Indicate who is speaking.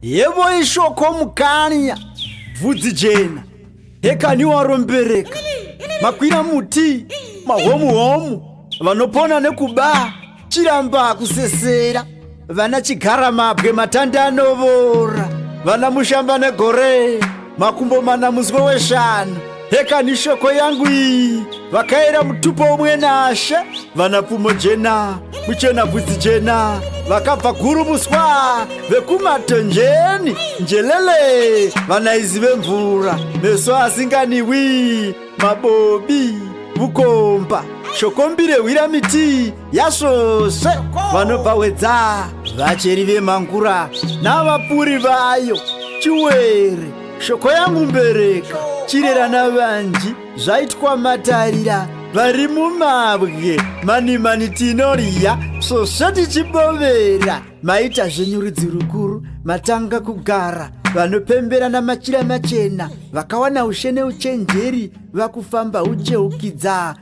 Speaker 1: Yebo ishoko mukanya bvudzi jena hekani warombereka makwira muti mahomu homu vanopona nekuba chiramba kusesera vana chigara mabwe matanda anovora vana mushamba negore makumbo mana muzwe weshanu hekani shoko yangu iyi vakaera mutupo umwe nashe vana pfumo jena muchena bvudzi jena vakabva guru muswa vekumatonjeni njelele vana izi vemvura meso asinganiwi mabobi vukomba shokombire hwira miti yasvosve vanobva hwedzaa vacheri vemangura navapuri vayo chiwere shoko yangu mbereka chirera navanji zvaitwa matarira vari mumabwe mani mani tinorya svosve tichibovera maita zvenyu rudzi rukuru matanga kugara vanopembera namachira machena vakawana ushe neuchenjeri vakufamba ucheukidzaa